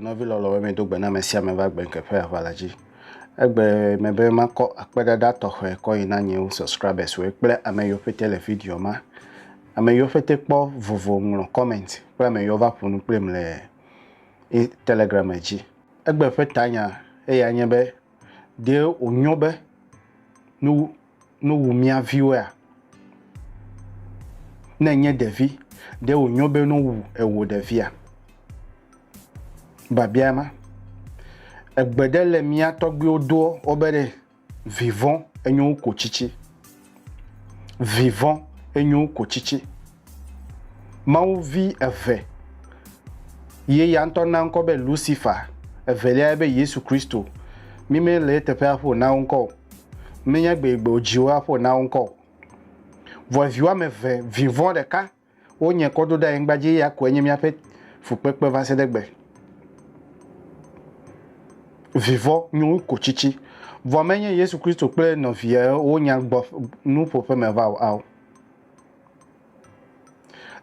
nɔvi lɔlɔ be medo gbe na ame sia ame va gbe ŋkeƒe aʋala dzi egbe me be makɔ akpeɖaɖa tɔxɛ kɔ yi na nyewo subscribers woe kple ame yiwo ƒete le video ma ame yiwo ƒete kpɔ vovo ŋlɔ comment kple ame yiwo va ƒo nu kplim le telegram dzi Egbe ƒe tanya eya nye be, Ɖe wònyo be nu nuwu mía viwoea? Ne ènye ɖevi, ɖe wònyo be nu wu ewò ɖevia? Biabia ma. Egbe ɖe le mía tɔgbuiwo doɔ wobe ɖe Vivɔ enyo wu ko tsitsi. Vivɔ enyo wu ko tsitsi. Mawu vi eve ye ya ŋutɔ na ŋkɔ be Lusifa, evelia ya be Yesu Kristo. Mi me le eteƒe aƒo na wo ŋkɔ o. Menye gbeyigbe wodzi wo aƒo na wo ŋkɔ o. Vɔ evi woame eve, vivɔ ɖeka. Wo nye kɔ do ɖe anyigba dzi eya koe nye míaƒe fukpekpe va se ɖe gbe. Vivɔ nyo wu ko tsitsi. Vɔ menye Yesu Kristo kple nɔvia wo nya gbɔ nuƒoƒe me va o ao.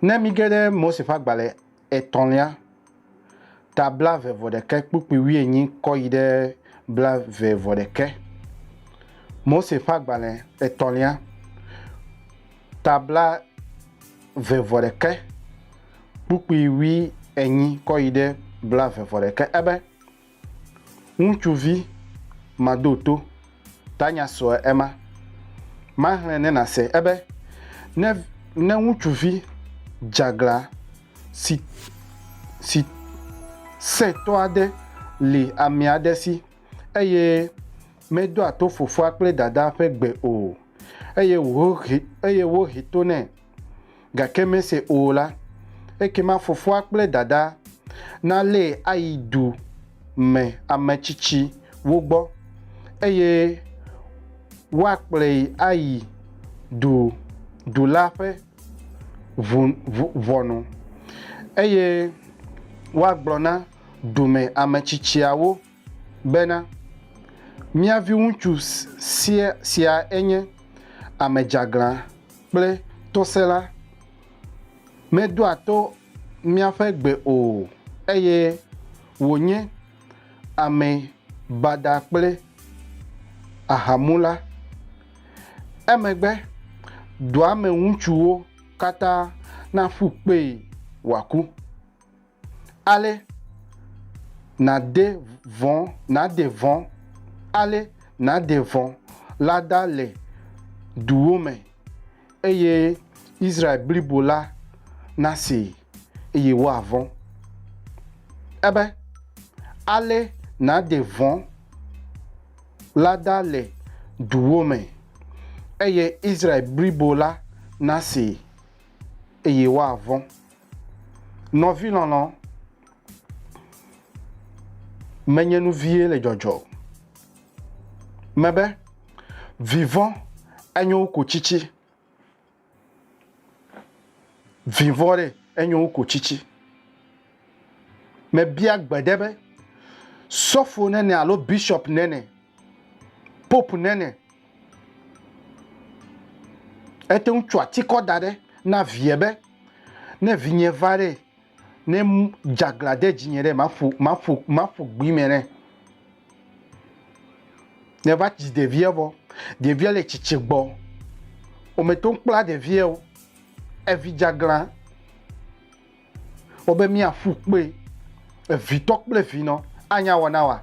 Ne míge ɖe Mose ƒe agbalẽ etɔ̃lia ta blave vɔ ɖekɛ kpukpui wuienyi kɔ yi ɖe blave vɔ ɖekɛ. Mose ƒe agbalẽ etɔ̃lia, ta blave vɔ ɖekɛ kpukpui wui enyi kɔ yi ɖe blave vɔ ɖekɛ. Ebe. Ŋutsuvi madoto, tanya sɔe ema. Maxlẽ ne nàse ebe, Ne, ne ŋutsuvi dzeaglã si, si sẽtɔ aɖe li ame aɖe si, eye medoa to fofoa kple dadaa ƒe gbe o, eye wòhe, eye wohe to nɛ, gake mese o la, ekema fofoa kple dadaa nalée ayi du me ame tsitsiwo gbɔ, eye woakplɔe ayi du du la ƒe ʋɔnu, eye woagblɔ na du me ame tsitsiawo. bena, Mía viŋutsu sia siae nye ame dzeaglã kple tɔsẽla. Medoa to míaƒe gbe o, eye wònye ame badaa kple ahamula. Emegbe dua me ŋutsuwo katã naƒu kpee wòaku. ale nàde vɔ̃, nàde vɔ̃, ale nàde vɔ̃ la ɖa le duwo me, eye Israel blibo la nasee, eye woavɔ̃. Ebe, ale nàde vɔ̃ la ɖa le duwo me, eye Israel blibo la nasee, eye woavɔ̃. Nɔvi lɔlɔ, menye nu vie le dzɔdzɔ o. Mebe, vivɔ enyo wu ko tsitsi. Vivɔ ɖe enyo wu ko tsitsi. Mebia gbe ɖe be, sɔfo nɛnɛ alo bishop nɛnɛ, pope nɛnɛ, ete ŋu tsɔ atikɔ da ɖe na vie be, Ne vinye va ɖe, ne dzaglã de dzinye ɖe, maƒo, maƒo, maƒo gbi me ɖe. Ne va dzi ɖevia vɔ, ɖevia le tsitsi gbɔ. Wometo kpla ɖevia o. Evi dzaglã. Wobe míaƒu kpe. Evitɔ kple vinɔ. Anya wɔna wa?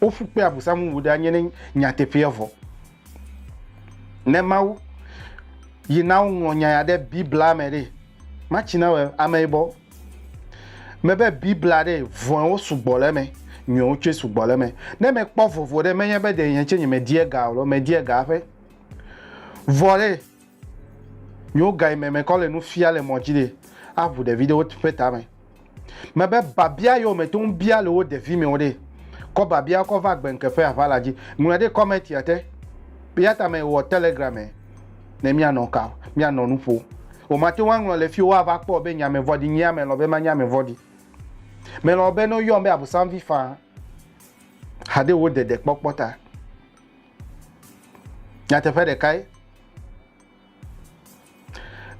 Woƒu kpe Abosam ŋu ɖe anyi ne nyateƒea vɔ. Ne Mawu yi na woŋlɔ nya ya ɖe Biblia me ɖe, matsi na wɔ ameyibɔ. Mebe Biblia ɖe, vɔ̃ewo sugbɔ le eme, nyuiwo tsɛ sugbɔ le eme. Ne mekpɔ vovo ɖe, menye be ɖe nye tsɛ nyemediea ga o loo, mediea ga eƒe. Vɔ ɖe, Míwo gayi me mekɔ le nu fia le mɔ dzi ɖe aʋu ɖevi ɖewo ƒe tame. Me be babia yewo me toŋ bia le wo ɖevi me wo ɖe. Kɔ babia kɔ va gbe ŋke ƒe aʋa la dzi. Ŋlɔe ɖe kɔmɛtia te. Eyata me wɔ telegram me ne mia nɔ ka mia nɔ nu ƒo. O ma teŋu aŋlɔ le fio wa va kpɔ be nye ame vɔɖi nyea me lɔ be manye ame vɔɖi. Me lɔ be no yɔm be abusanvi faa hade wo ɖeɖe kpɔkpɔ ta. nyateƒe ɖekae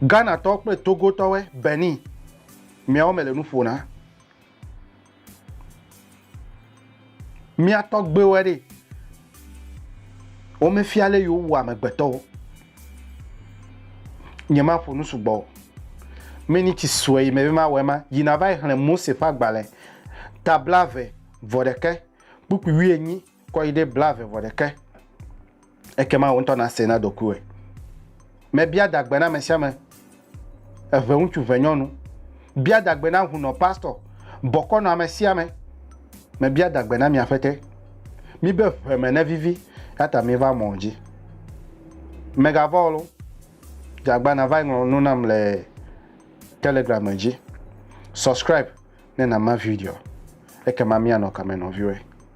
ghanatɔwo kple togotɔwe benin miawo mele nu ƒona mia tɔgbewo ɖe wo me fia le yo wo amegbetɔ wo nye ma ƒo nusu gbɔ me ni tsi sue yi me be ma wɔ ma yi na va yi xle mose fa gbale tabla ve vɔ ɖeke kpukpu wi enyi Kɔ yi ɖe blaeve vɔ ɖeke. Ekema wò ŋutɔ nàsee na ɖokuiwòe. Mebia dagbe na amesiame, eve ŋutsu, eve nyɔnu. Bia dagbe na hunɔ, pastɔ. Bɔkɔ nɔ amesiame. Mebia dagbe na mia ƒete. Mibe ʋe me nevivi, eyata miva mɔ dzi. Megavɔ̃ ol o. Dze agba nava ŋlɔ nu nam le Telegram dzi. Subscribe ne nàma video. Ekema míanɔ kame nɔviwɔe.